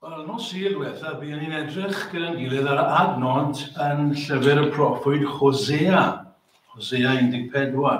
Wel, yn nos i'r diwetha, byddwn ni'n edrych gyda'n gilydd ar adnod yn llyfr y proffwyd Hosea, Hosea 14.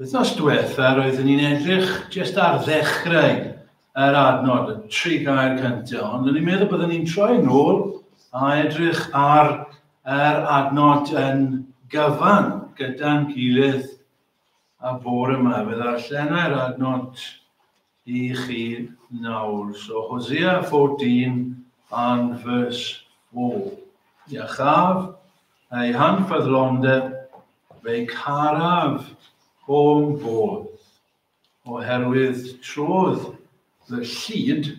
Wythnos diwetha roeddwn ni'n edrych jest ar ddechrau yr adnod, y tri gair cyntaf, ond o'n i'n meddwl byddwn ni'n troi nôl a edrych ar yr adnod yn gyfan gyda'n gilydd a bore yma. Fe ddarllenai'r adnod i chi nawr. So, Hosea 14 and verse 4. Ia chaf, ei hanfyddlondeb, fe'i caraf o'm bodd, oherwydd trodd fy llid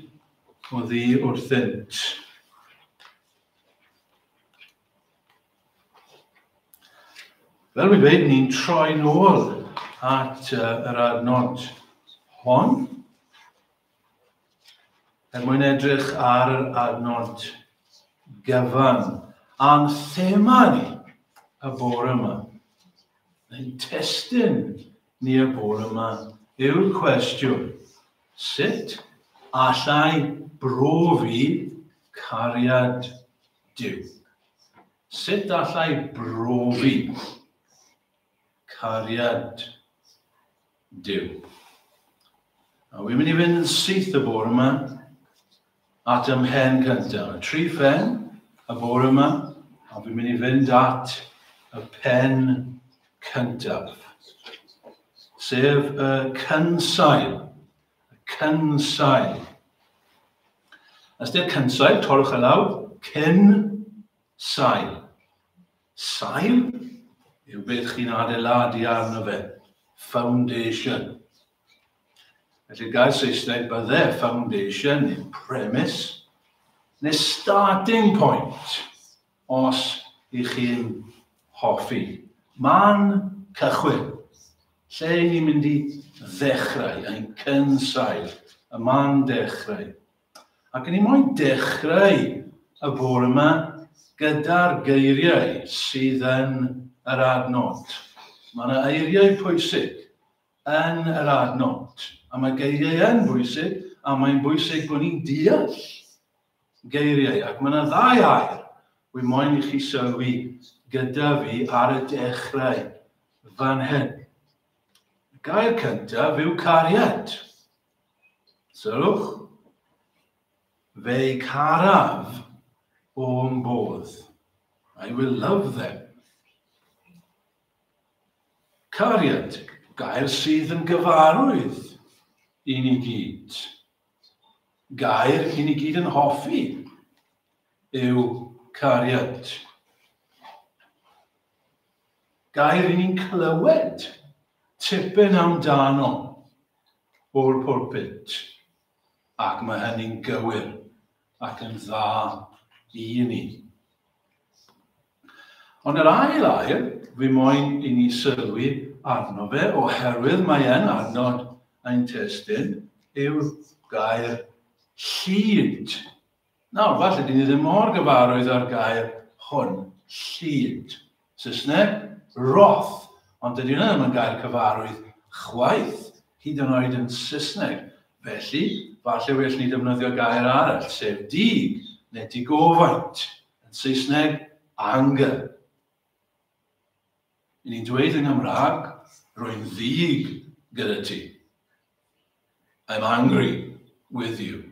o ddi wrthynt. Fel fi'n dweud, ni'n troi nôl at uh, yr adnod hon. Er mwyn edrych ar yr adnod gyfan a'n thema ni y bore yma. Ein testyn ni y bore yma yw'r cwestiwn, sut allai brofi cariad Duw. Sut allai brofi cariad Duw? A wy'n mynd i fynd yn syth y bore yma at ym mhen cyntaf. Y tri phen y bore yma, a fi'n mynd i fynd at y pen cyntaf, sef y cynsail. Y cynsail. Ystyr cynsail, torwch y lawr, cyn sail. Sail yw beth chi'n adeiladu arno fe, foundation. Felly gair Saesneg bydde foundation neu premise neu starting point. Os y'ch chi'n hoffi. Man cychwyn, lle y'n ni'n mynd i ddechrau, ein cynsail, y man dechrau. Ac o'n i moyn dechrau y bore yma gyda'r geiriau sydd yn yr adnod. Mae yna eiriau pwysig yn yr adnod, a mae geiriau yn bwysig, a mae'n bwysig bod ni'n deall Geiriau, ac mae yna ddau air wi moyn i chi sylwi gyda fi ar y dechrau fan hyn. Y gair cyntaf yw cariad. Sylwch. Fe'i caraf o'm bodd. I will love them. Cariad, gair sydd yn gyfarwydd i ni gyd. gair chi'n i gyd yn hoffi yw cariad. Gair i ni'n clywed tipyn amdano o'r pwlpit. Ac mae hynny'n gywir ac yn dda i ni. Ond yr ail air, fu moyn i ni sylwi arno fe oherwydd mae e'n adnod ein testun, yw'r gair 'llid'. Nawr, falle dyn ni ddim mor gyfarwydd â'r gair hwn, 'llid'. Saesneg, wrath. Ond dydy hwnna ddim yn gair cyfarwydd chwaith, hyd yn oed yn Saesneg. Felly, falle well ni defnyddio gair arall, sef 'dig' neu 'digofaint'. Yn Saesneg, anger. I ni'n dweud yng Nghymraeg, rwy'n ddig gyda ti. I'm angry with you.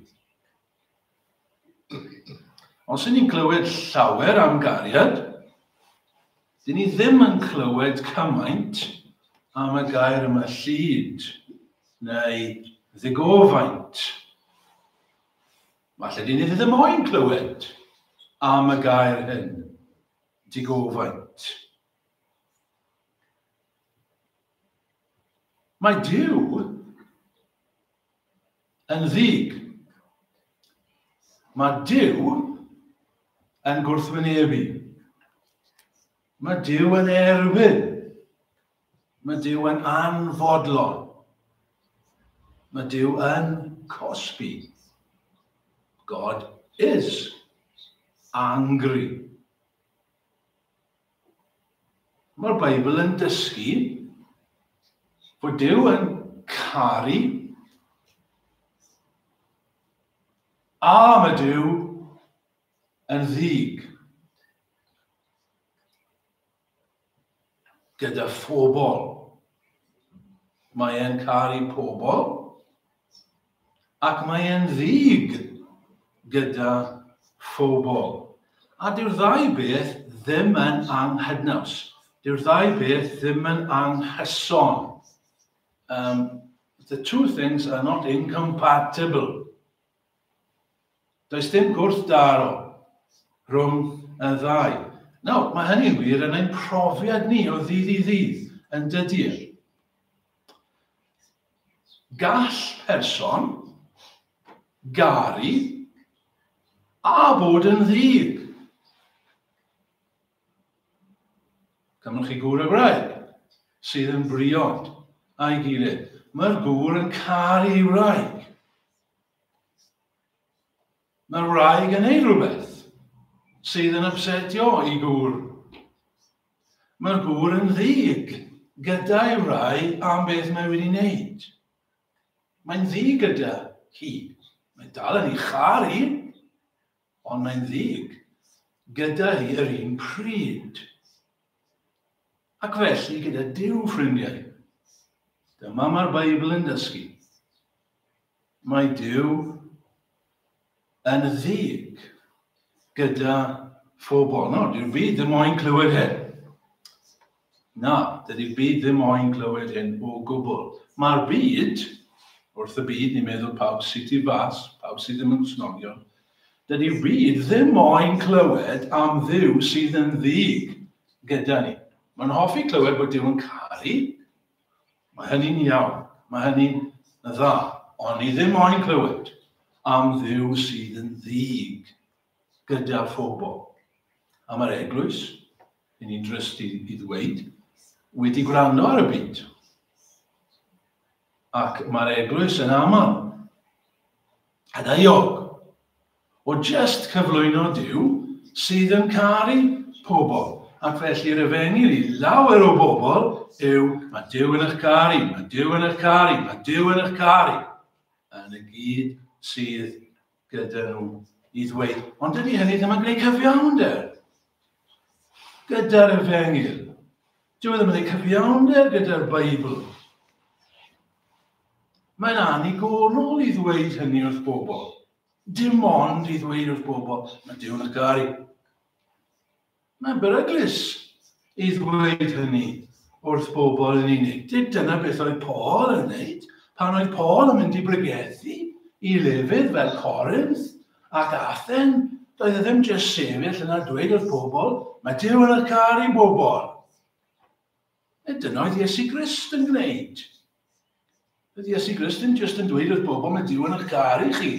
Os y'n ni'n clywed llawer am gariad, dyn ni ddim yn clywed cymaint am y gair yma llid neu ddigofaint. Falle dyn ni ddim moyn clywed am y gair hyn, digofaint. Mae Dyw yn ddig. Mae Dyw yn gwrthwynebu. Mae Dyw yn erwin. Mae Dyw yn anfodlon. Mae Dyw yn cosbi. God is angry. Mae'r Beibl yn dysgu bod Dyw yn caru a mae Dyw yn ddig. gyda phobl. Mae e'n caru pobl ac mae e'n ddig gyda phobl. A dyw'r ddau beth ddim yn anghydnaws. Dyw'r ddau beth ddim yn anghyson. Um, the two things are not incompatible. Does dim gwrthdaro rhwng y ddau. Nawr, mae hynny'n wir yn ein profiad ni o ddydd i ddydd, yn dydy'r. Gall person garu a bod yn ddig. Cymrwch chi gŵr a gwraig sydd yn briod a'i gilydd. Mae'r gŵr yn caru ei wraig. Mae wraig yn ei rhywbeth sydd yn ypsetio i gŵr. Mae'r gŵr yn ddig gyda'i wraig am beth mae wedi wneud. Mae'n ddig gyda hi. Mae dal yn ei char i. Ond mae'n ddig gyda hi yr un pryd. Ac felly gyda Duw, ffrindiau. Dyma mae'r Beibl yn dysgu. Mae Duw yn ddig gyda phobl. No, dwi'n fi ddim moyn clywed hyn. Na, dydi'r byd ddim moyn clywed hyn o gwbl. Mae'r byd, wrth y byd ni'n meddwl pawb sy tu fas, pawb sydd ddim yn Gristnogion, dydi'r byd ddim moyn clywed am Dduw sydd yn ddig gyda ni. Mae'n hoffi clywed bod Duw yn caru, mae hynny'n iawn, mae hynny'n dda, ond ni ddim moyn clywed am Dduw sydd yn ddig gyda phobl. Am yr eglwys, Yn interesting i ddweud, wedi gwrando ar y byd. Ac mae'r eglwys yn aml yn euog o just cyflwyno Duw sydd yn caru pobl. Ac felly'r efengyl i lawer o bobl yw, mae Duw yn eich caru, mae Duw yn eich caru, mae Duw yn eich caru. Yn y gyd sydd gyda nhw i ddweud, ond dydy hynny ddim yn gwneud cyfiawnder gyda'r efengyl. Dyw e ddim yn gwneud cyfiawnder gyda'r Beibl. Mae'n anigonol i ddweud hynny wrth bobl. Dim ond i ddweud wrth bobl, mae Dyw'n y gael. Mae'n beryglus i ddweud hynny wrth bobl yn unig. Dyna beth oedd Paul yn wneud pan oedd Paul yn mynd i bregethu i lefydd fel Corinth ac Athen. Doedd e ddim jyst sefyll yna dweud wrth bobl, mae Dyw yn y car i bobl. E dyna oedd Iesu Grist yn gwneud. Oedd Iesu Grist ddim jyst yn dweud wrth bobl, mae Dyw yn y car i chi.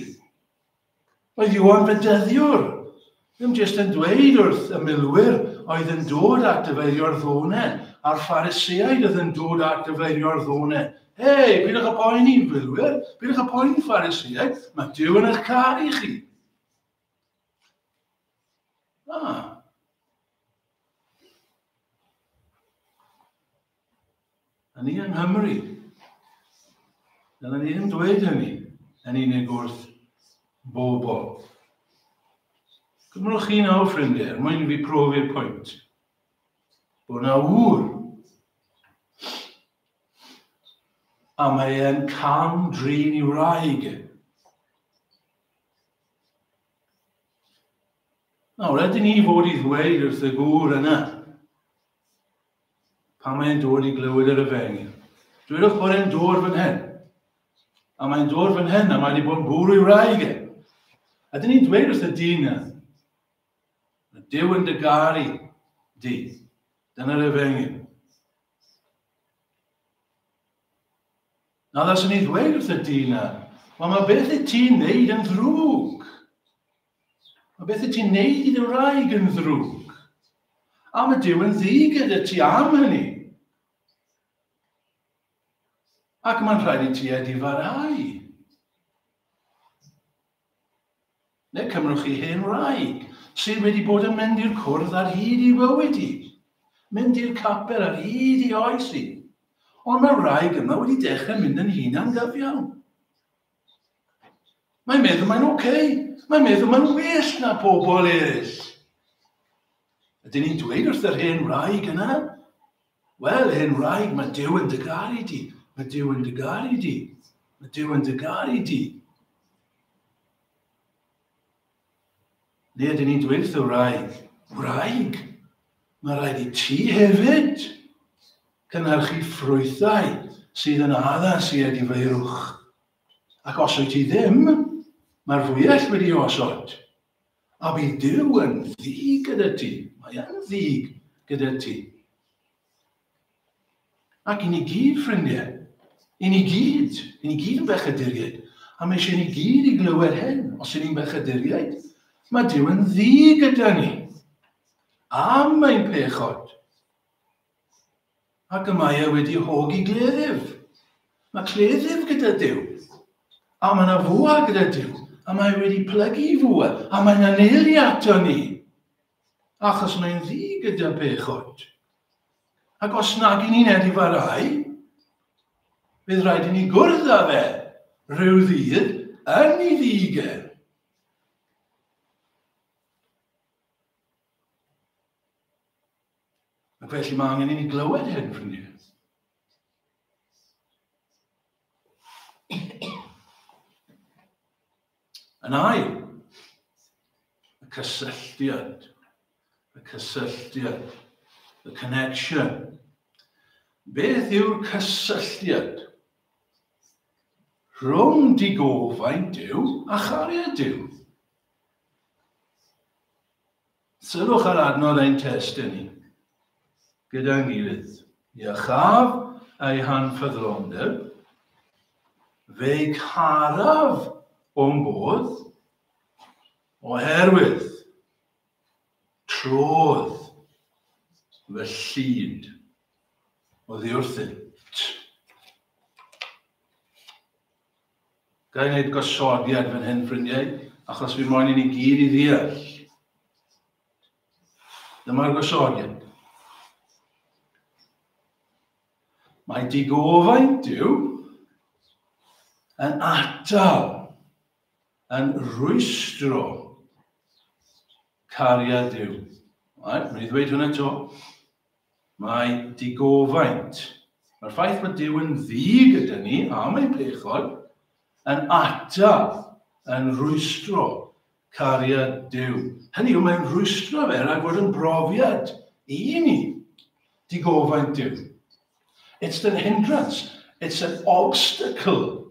Oedd Iwan Bedyddiwr ddim jyst yn dweud wrth y milwyr oedd yn dod at dyfeirio'r ddone a'r Phariseaid oedd yn dod at dyfeirio'r ddone, Hei, bidwch â poeni, filwyr, bidwch â poeni, Phariseaid, mae Dyw yn eich caru i chi. Ah. A ni yng Nghymru. Dyna ni ddim dweud hynny yn unig wrth bobl. Cymrwch chi nawr, ffrindiau, er mwyn i fi profi'r pwynt. Bod na ŵr. A mae e'n cam drin i wraig e. Nawr, ydyn ni fod i ddweud wrth y gŵr yna, Pan mae'n dod i glywed yr efengyl, dwedwch bod e'n dod fan hyn. A mae'n dod fan hyn, a mae wedi bod yn bwrw i wraig e. A dyn ni'n dweud wrth y dyn na, y Dyw yn dygaru di. Dyna'r efengyl. Na ddaswn ni ddweud wrth y dyn na, wel mae beth y ti'n neud yn ddrwg. A beth y ti'n neud i dy wraig yn ddrwg? A mae Dyw yn ddi gyda ti am hynny. Ac mae'n rhaid i ti edifarau. Neu cymrwch chi hen wraig sydd wedi bod yn mynd i'r cwrdd ar hyd i fywyd i, mynd i'r capel ar hyd i oes i. Ond mae wraig yma wedi dechrau mynd yn hun am gyfiawn. Mae'n meddwl mae'n oce. Okay. Mae'n meddwl mae'n well na pobl eraill. Ydyn ni'n dweud wrth yr hen wraig yna? Wel, hen wraig, mae Dyw yn dy garu di. Mae Dyw yn dy garu di. Mae Dyw yn dy garu di. Nid yn nid wyth y wraig. Wraig! Mae rhaid i ti hefyd cynhyrchu ffrwythau sydd yn addas i edifeirwch. Ac os wyt ti ddim, mae'r fwyell wedi osod. A bydd Duw yn ddig gyda ti. Mae yn ddig gyda ti. Ac i ni gyd, ffrindiau, i ni gyd, i ni gyd yn bechaduriaid, a mae eisiau ni gyd i glywed hyn, os y'n ni'n bechaduriaid, mae Dyw yn ddi gyda ni. Am ein pechod. Ac y mae e wedi hogi gleddyf. Mae cleddyf gyda Dyw. A mae yna fwa gyda Dyw. A mae e wedi plygu i fwa. A mae yna neili ato ni. achos mae'n ddi gyda pech oed. Ac os nag i ni'n edifarau, bydd rhaid i ni gwrdd â fe rhyw ddydd yn ei ddigen. Ac felly mae angen i ni glywed hyn, ffrindiau. Yn ail, y cysylltiad, y cysylltiad, the connection. Beth yw'r cysylltiad rhwng digofaint Duw a chariad Duw? Sylwch ar adnodd ein testun ni gyda'n gilydd. Iachaf ei hanffyddlondeb, fe'i caraf o'n bodd, oherwydd trodd fy llid oddi wrthynt. Ga i wneud gosodiad fan hyn, ffrindiau, achos fi moyn i ni gyd i ddeall. Dyma'r gosodiad. Mae digofaint Dyw yn atal, yn rwystro cariad Dyw. Right, mynd i ddweud hwnna to. Mae digofaint, mae'r ffaith bod Duw yn ddi gyda ni, a mae'n pechod, yn atal, yn rwystro cariad Duw. Hynny yw, mae'n rwystro fe rhag bod yn brofiad i ni. Digofaint Duw. It's an hindrance, it's an obstacle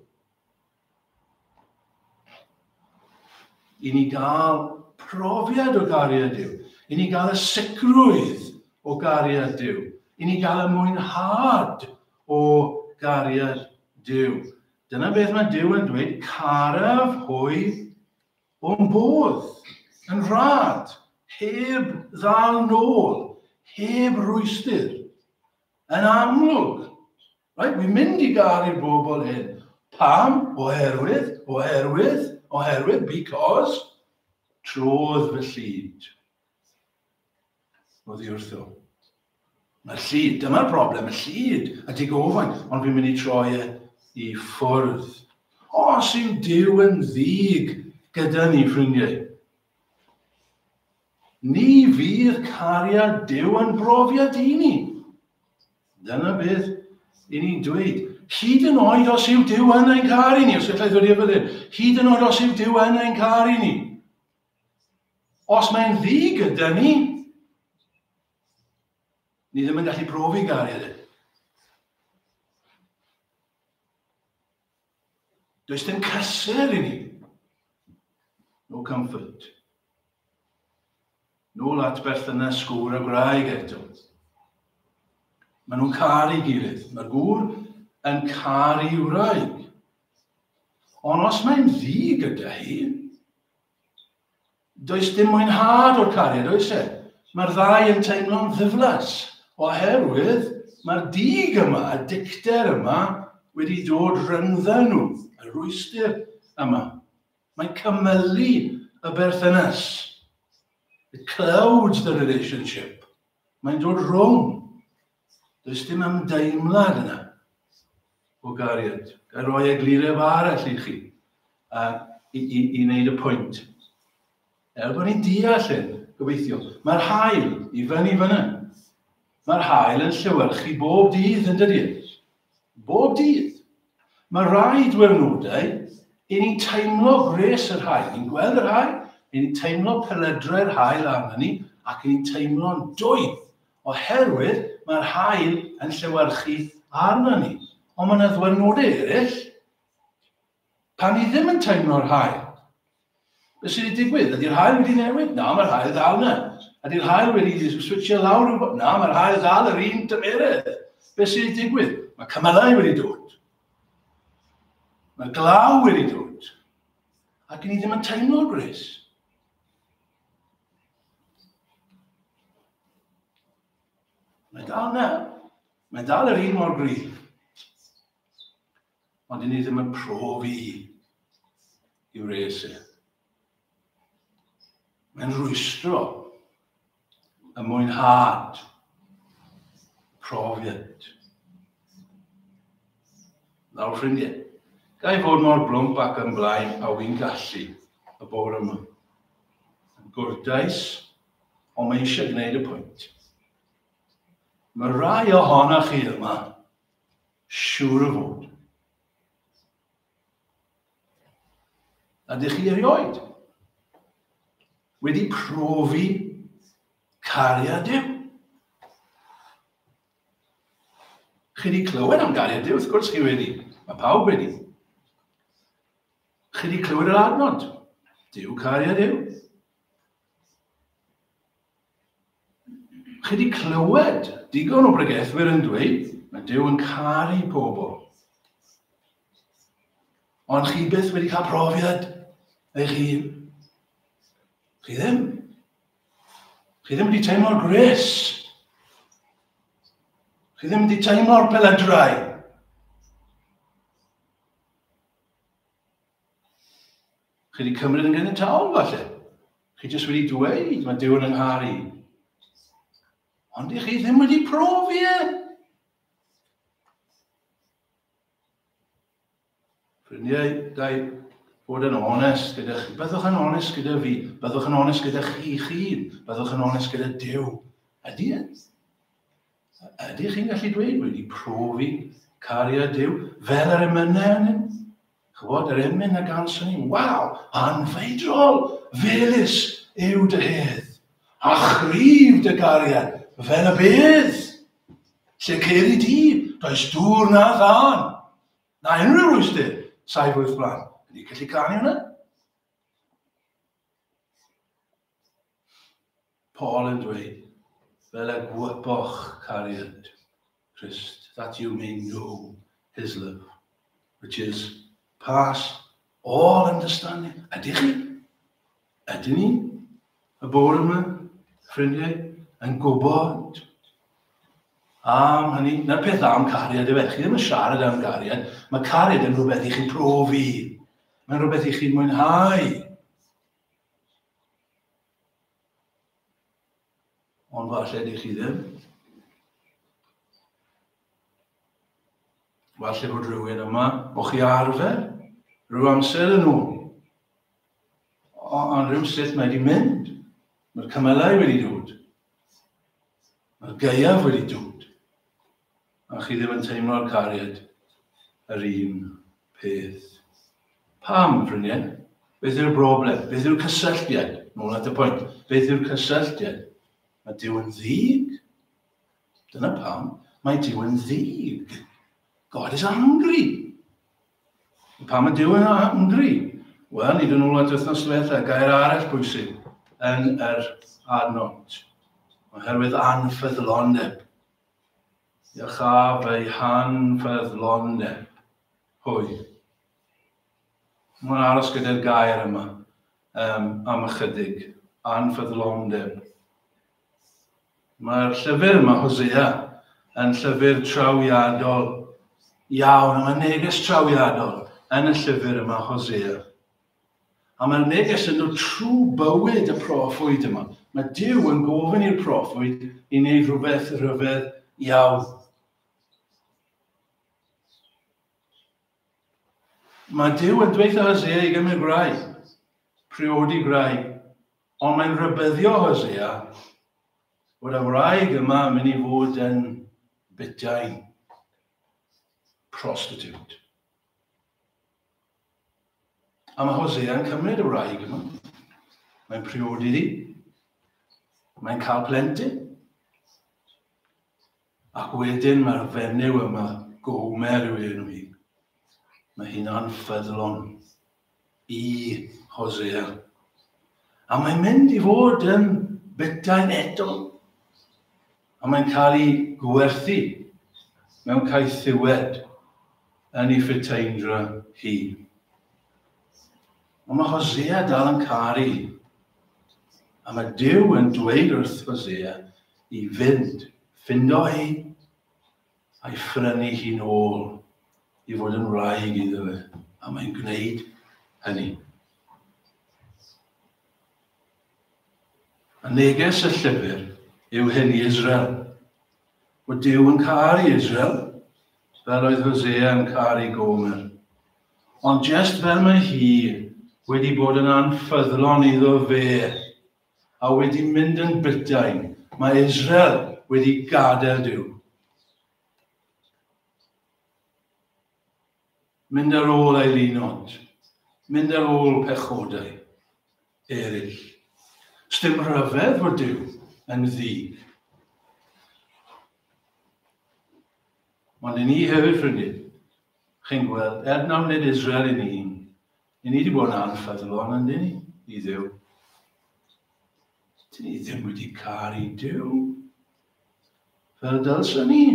I ni gael profiad o gariad Duw. I ni gael y sicrwydd o gariad Duw. I ni gael y mwynhad o gariad Duw. Dyna beth mae Duw yn dweud, caraf hwy o'n bodd, yn rhad, heb ddal nôl, heb rwystyr. Yn amlwg, Reit, wi'n mynd i garu'r bobl hyn. Pam? Oherwydd, oherwydd, oherwydd, because. Trodd fy llid. Oddi wrtho. Mae'r llid, dyma'r broblem, y llid a dig ofain, ond fi'n mynd i troi e i ffwrdd. Os yw Dyw yn ddig gyda ni, ffrindiau, Ni fydd cariad Duw yn brofiad i ni. Dyna beth i ni'n dweud. Hyd yn oed os yw Dyw yn ein caru ni, os gallai ddod i'r byddin, hyd yn oed os yw Dyw yn ein caru ni. Os mae'n ddi gyda ni, ni ddim yn gallu profi gariad e. Does dim cysur i ni. No comfort. No at berthynas gŵr a gwraig eto. Mae nhw'n caru gilydd. Mae'r gŵr yn caru wraig. Ond os mae'n ddi gyda hi, Does dim mwynhad o'r cariad, oes e? Mae'r ddau yn teimlo'n ddiflas, oherwydd mae'r dig yma, y dicter yma, wedi dod rhyngdda nhw, y rwystyr yma. Mae'n cymylu y berthynas. It clouds the relationship. Mae'n dod rhwng. Does dim ymdeimlad yna o gariad. Ga roi egluref arall i chi a, i, i, i wneud y pwynt. Er bod ni'n deall hyn, gobeithio, mae'r hael i fyny fyna. Mae'r hael yn llewyrchu bob dydd yn dydy. Bob dydd. Mae rai diwrnodau i ni'n teimlo gwres yr hael, ni'n gweld yr hael, ni'n teimlo peledrau'r hael arno ni, ac ni'n teimlo'n dwy Oherwydd mae'r haul yn llewyrchu arna ni. Ond mae yna ddwyrnodau eraill. Pan ni ddim yn teimlo'r haul. Be sydd wedi digwydd? Ydy'r haul wedi newid? Na, mae'r haul dal yna. Ydy'r haul wedi switio lawr rhywbeth? Na, mae'r haul dal yr un tymeredd. Be sydd wedi digwydd? Mae cymylau wedi dod. Mae glaw wedi dod. Ac ni ddim yn teimlo'r gwres. Mae dal na. Mae dal yr un mor gryf. Ond i ni ddim yn profi i wres e. Mae'n rwystro y mwynhad profiad. Nawr ffrindiau, ga i fod mor blwmp ac yn blaen a wy'n gallu y bore yma. Yn gwrtais, ond mae eisiau gwneud y pwynt. Mae rhai ohonoch chi yma, siŵr o fod. Ydych chi erioed wedi profi cariad Dyw? Chi wedi clywed am gariad Dyw, wrth gwrs chi wedi. Mae pawb wedi. Chi wedi clywed yr adnod? Dyw cariad yw. Chi wedi clywed digon o bregethwyr yn dweud mae Dyw yn caru pobl. Ond chi byth wedi cael profiad eich hun. Chi ddim. Chi ddim wedi teimlo'r gres. Chi ddim wedi teimlo'r peledrau. Chi wedi cymryd yn gynnydd tawn, falle. Chi jyst wedi dweud, mae Dyw yn ynghar i. Ond i chi ddim wedi profi e. Ffrindiau, da i bod yn onest gyda chi. Byddwch yn onest gyda fi. Byddwch yn onest gyda chi chi. Byddwch yn onest gyda Dyw. Ydy e? Ydych chi'n gallu dweud wedi profi cariad Duw fel yr emynau arnyn? Chwbod, yr emyn a ganson ni, waw, anfeidrol, felus yw dy hedd, a chryf dy gariad fel y bydd. Lle ceir i di, does dŵr na ddan, na unrhyw rwystyr, saif wyth blan. Ydy gallu canu hwnna? Paul yn dweud, fel y gwyboch cariad Christ, that you may know his love, which is pass all understanding. Ydych chi? Ydyn ni? Y bore yma, ffrindiau, yn gwybod am hynny. Na'r peth am cariad yw e. Chi ddim yn siarad am gariad. Mae cariad yn rhywbeth i chi profi. Mae'n rhywbeth i chi'n mwynhau. Ond falle di chi ddim. Falle bod rhywun yma o chi arfer rhyw amser yn ôl. Ond rhyw sut mae wedi mynd. Mae'r cymylau wedi dod. Mae'r gaeaf wedi dod. A chi ddim yn teimlo'r cariad yr un peth. Pam, ffrindiau? Beth yw'r broblem? Beth yw'r cysylltiad? Nôl at y pwynt. Beth yw'r cysylltiad? Mae Dyw yn ddig. Dyna pam mae Dyw yn ddig. God is angry. Pam mae Dyw yn angry? Wel, nid yn ôl at wythnos diwetha, gair arall bwysig yn yr adnod. Oherwydd anffyddlondeb. Iachaf ei hanfeddlon neb. Hwy. Mae'n aros gyda'r gair yma um, am ychydig. Anfeddlondeb. Mae'r llyfr yma, Hosea, yn llyfr trawiadol iawn. Mae'n neges trawiadol yn y llyfr yma, Hosea. A mae'r neges yn dod trwy bywyd y proffwyd yma. Mae Duw yn gofyn i'r proffwyd i wneud rhywbeth rhyfedd iawn. Mae Duw yn dweud Hosea i gymryd gwraig, priodi gwraig, ond mae'n rhybyddio Hosea bod y wraig yma yn mynd i fod yn bytai prostitute. A mae Hosea yn cymryd y wraig yma. Mae'n priodi hi. Mae'n cael plentyn. Ac wedyn mae'r fenyw yma, Gomer yw enw hi. Mae hi'n anffyddlon i Hosea. A mae'n mynd i fod yn betain eto. a mae'n cael ei gwerthu mewn caethiwed yn ei Friteinrra hi. Ond mae Hosea dal yn caru, a mae Dyw yn dweud wrth Hosea i fynd, ffindo hi, a'i phrynu hi'n ôl i fod yn wraig iddo fe, a mae'n gwneud hynny. A neges y llyfr yw hyn i Israel. Mae Dyw yn caru Israel, fel oedd Hosea yn caru Gomer. Ond jest fel mae hi wedi bod yn anffyddlon iddo fe a wedi mynd yn bytain, mae Israel wedi gadael Duw. Mynd ar ôl ei linod, mynd ar ôl pechodau eraill. Sdim rhyfedd fod Duw yn ddig. Ond i ni hefyd, ffrindiau, chi'n gweld, er na wneud Israel i ni, I ni wedi bod yn anffyddlon yn ni i ddew. Dyn ni ddim wedi car i dew. Fel dylsyn ni.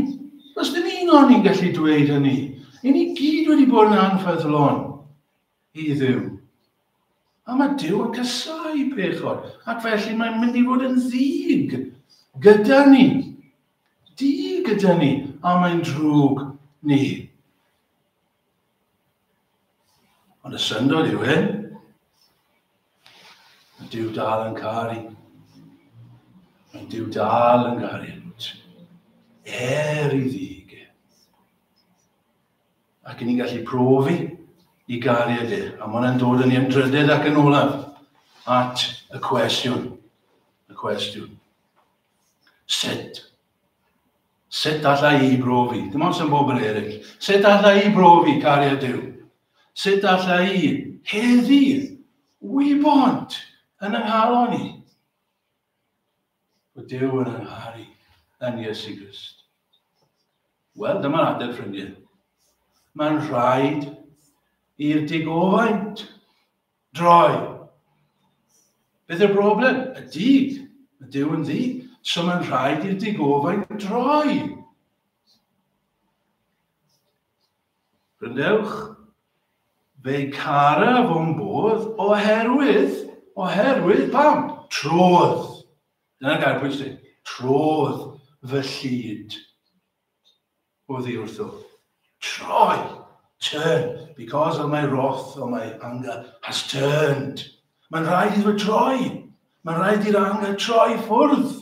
Os dim un o'n ni'n gallu dweud hynny. I ni gyd wedi bod yn anffyddlon i ddew. A mae Dyw yn casau pechod, ac felly mae'n mynd i fod yn ddig gyda ni. Di gyda ni, a mae'n drwg ni. Ond y syndod yw hyn. Mae Dyw dal yn caru. Mae Dyw dal yn caru. Er i ddig. Ac ni'n gallu profi i garu ydy. A mae hwnna'n dod yn ei ymdrydedd ac yn olaf at y cwestiwn. Y cwestiwn. Sut Sut alla i brofi? Dim ond sy'n bob yn eraill. Sut alla i brofi cariad Duw? Sut alla i heddydd wybod yn yng nghalon i? Bod Duw yn yngharu yn Iesu Grist. Wel, dyma'r adeg, ffrindiau. Mae'n rhaid i'r digofaint Droi. Beth yw'r broblem? Y dyd. Mae Dyw yn ddi. So mae'n rhaid i'r digofain droi. Rhyndewch. Fe cara fo'n bodd oherwydd, oherwydd pam? Trodd. Dyna'r gair pwysig. Trodd fy llid. Oddi wrtho, Troi! Turn! Because of my wrath or my anger has turned. Mae'n rhaid iddo troi! Mae'n rhaid i'r anger troi ffwrdd!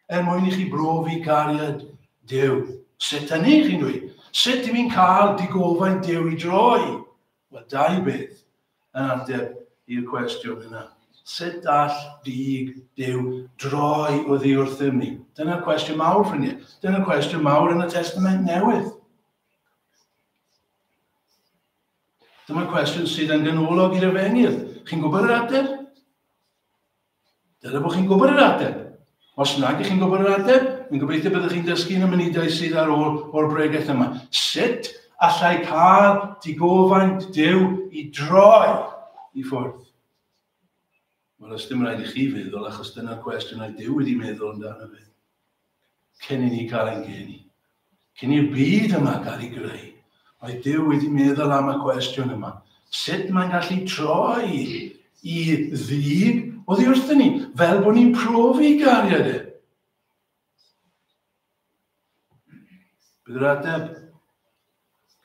Er mwyn i chi brofi cariad Dyw. Sut hynny, chi'n dweud? Sut i mi'n cael digofaint Dyw i droi? Wel, dau beth. yn ateb i'r cwestiwn yna. Sut all Dug Duw droi oddi wrthym ni? Dyna'r cwestiwn mawr, ffrindiau. Dyna'r cwestiwn mawr yn y Testament Newydd. Dyma'r cwestiwn sydd yn ganolog i'r efengyl. Chi'n gwybod yr ateb? Dyna bod chi'n gwybod yr ateb. Os nag ych chi'n gwybod yr ateb, yn gobeithio byddwch chi'n dysgu yn y munudau sydd ar ôl o'r bregeth yma. Sut allai cael digofaint Dyw i droi i ffwrdd? Wel, os dim rhaid i chi feddwl, achos dyna'r cwestiwn oedd Dyw wedi meddwl amdano fe. cyn i ni gael ein geni. Cyn i'r byd yma gael ei greu, oedd Duw wedi meddwl am y cwestiwn yma. Sut mae'n gallu troi i ddyn oddi wrthyn ni, fel bod ni'n profi gariad e? Bydd yr ateb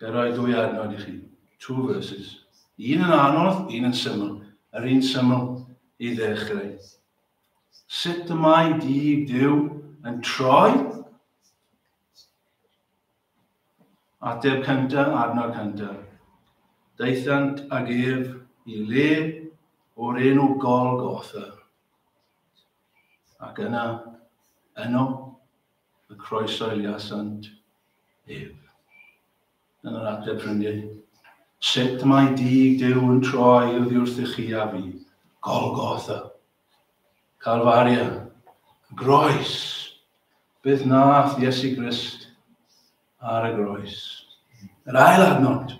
Ga i roi dwy adnod i chi? Two verses. Un yn anodd, un yn syml. Yr un syml i ddechrau. Sut y mae dydd Duw yn troi? Ateb cynta, adnod cynta. Daethant ag ef i le o'r enw Golgotha. Ac yna, yno, y croesoeliasant ef. Yn yr ateb ffrindiau, sut mae dig Duw yn troi oddi wrthych chi a fi? Golgotha, Calfaria, y groes, beth nath Iesu Grist ar y groes. Yr ail adnod,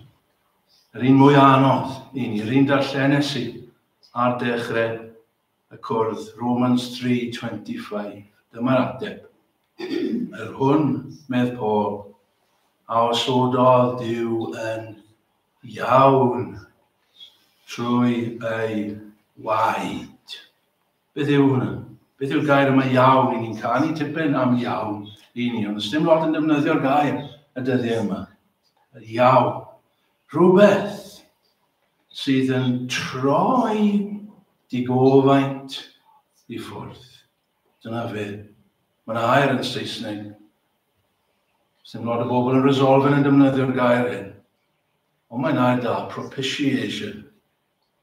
yr un mwy anodd i ni, yr un darllenes i ar dechrau y cwrdd, Romans 3:25. Dyma'r ateb. Yr hwn, medd Paul, a osododd Dyw yn iawn trwy ei waed. Beth yw hwnna? Beth yw'r gair yma iawn? I ni'n canu tipyn am iawn i ni, ond ysdim lot yn defnyddio'r gair y dyddiau yma. Iawn. Rhywbeth sydd yn troi dy gofaint i ffwrdd. Dyna fe. Mae yna air yn Saesneg. Sdim lot o bobl yn resolve yn defnyddio'r gair hyn. Ond mae'n air da, propitiation.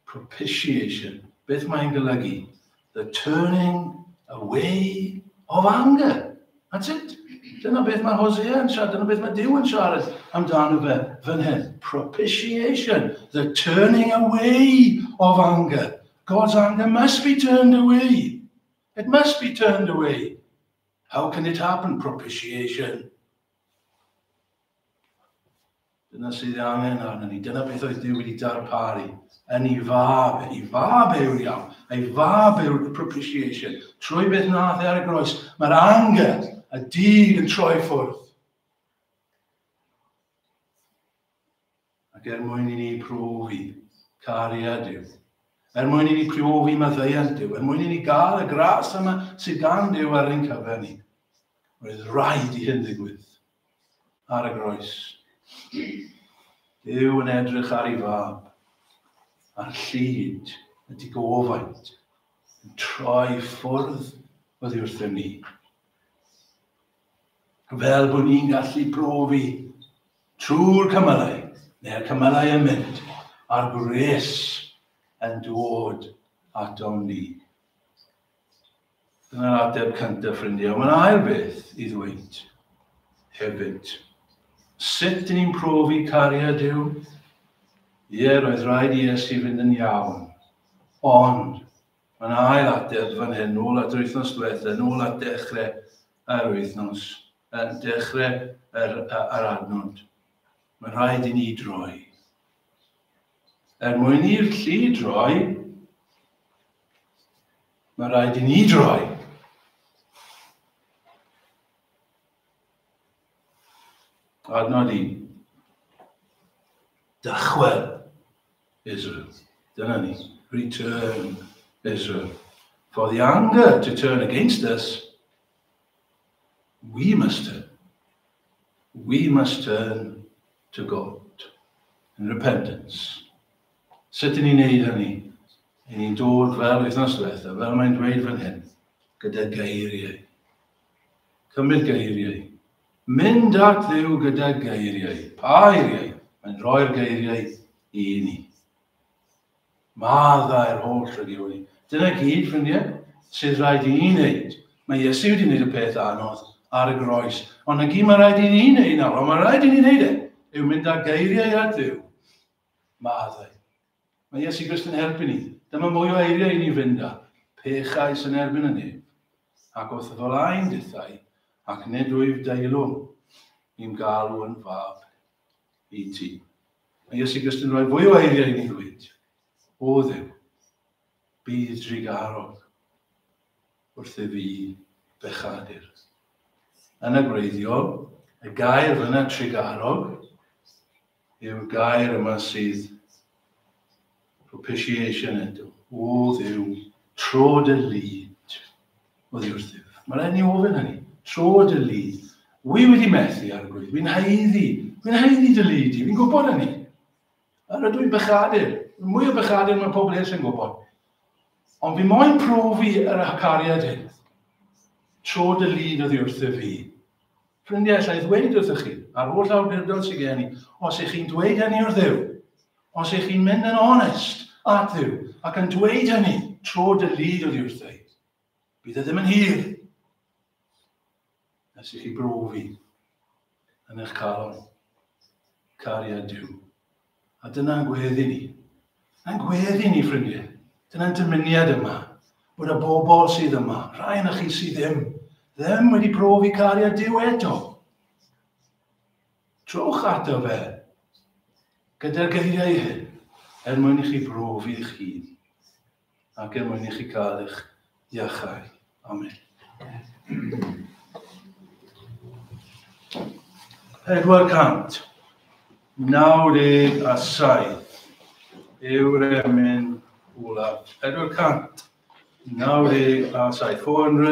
Propitiation, beth mae'n golygu? The turning away of anger. That's it. Dyna beth mae Hosea yn siarad, dyna beth mae Dyw yn siarad amdano fe fan hyn. Propitiation, the turning away of anger. God's anger must be turned away. It must be turned away. How can it happen? Propitiation. Dyna sydd ei angen arnyn ni. Dyna beth oedd Duw wedi darparu yn ei fab, yn ei fab yw'r iawn, ei fab yw'r propitiation. Trwy beth nath e ar y groes, mae'r angel a dyn yn troi ffwrdd. Ac er mwyn i ni profi cariad Duw, er mwyn i ni profi maddeuant Duw, er mwyn i ni gael y gras yma sydd gan Duw ar ein cyfer ni, roedd rhaid i hyn ddigwydd. ar y groes. Duw yn edrych ar ei fab, a'r llid y digofaint yn troi ffwrdd oddi wrthym ni. Fel bod ni'n gallu profi trwy'r cymylau, neu'r cymylau yn mynd, a'r gwres yn dod atom ni. Dyna'r ateb cyntaf, ffrindiau. Mae'n ail beth i ddweud hefyd. Sut dyn ni'n profi cariad yw? Ie, roedd rhaid i Iesu fynd yn iawn. Ond, mae'n ail ateb fan hyn, nôl at yr wythnos diwetha, nôl at dechrau yr wythnos, yn dechrau yr, yr adnod. Mae'n rhaid i ni droi. Er mwyn i'r llu droi, Mae rhaid i ni droi. Adnod i. Dychwel Israel. Dyna ni. Return Israel. For the anger to turn against us, we must turn. We must turn to God in repentance. Sut i ni'n neud hynny? I ni'n dod fel wythnos diwetha, fel mae'n dweud fan hyn, gyda geiriau. Cymryd geiriau. Mynd at ddew gyda geiriau. Pa eiriau? Mae'n rhoi'r geiriau i ni. Maddau'r holl rydw ni. Dyna gyd, ffrindiau, sydd rhaid i ni wneud. Mae Iesu wedi gwneud y peth anodd ar y groes. Ond na gyd mae rhaid i ni wneud nawr, ond mae rhaid i ni wneud e, yw mynd â geiriau at ddew. Maddau. Mae Iesu Grist yn erbyn i. Dyma mwy o eiriau i ni fynd â. Pechais yn erbyn y nef. Ac wrth y folaen dithau, ac nid wyf deilwng i'n galw yn fab i ti. Mae Iesu Grist yn rhoi fwy o eiriau i ni ddweud. O ddew, bydd drigarog wrth i fi bechadur. Yn y gwreiddiol, y gair fyna trigarog yw'r gair yma sydd propitiation eto. O ddew, tro dy lyd oddi wrthyf. Mae'n rhaid ni ofyn hynny. Tro dy lyd. Wy wedi methu ar y gwyd. Wy'n haeddu. Wy'n haeddu dy lyd i. Fi'n gwybod hynny. A rydw i'n bechadur. Mwy o bechadur mae pobl eraill yn gwybod. Ond fi moyn profi yr acariad hyn. Tro dy lyd oddi wrthyf fi. Ffrindiau, alla i ddweud wrthych chi, a'r holl awdurdod sydd gen i, os ych chi'n dweud hynny wrth Dduw, os ych chi'n mynd yn onest at Dduw ac yn dweud hynny tro dy lyd oddi wrthyd, bydd e ddim yn hir nes i chi brofi yn eich calon cariad Duw. A dyna'n gweddi ni. A'n gweddi ni, ffrindiau. Dyna'n dymuniad yma. Bod y bobl sydd yma, rhai yna chi sydd ddim, ddim wedi profi cariad Dyw eto. Trowch ato fe gyda'r geiriau hyn er mwyn i chi brofi eich hun. ac er mwyn i chi gael eich iachau. Amen. Pedwar cant, naw deg a saith yw'r emyn olaf. Pedwar cant, naw deg a saith. 400.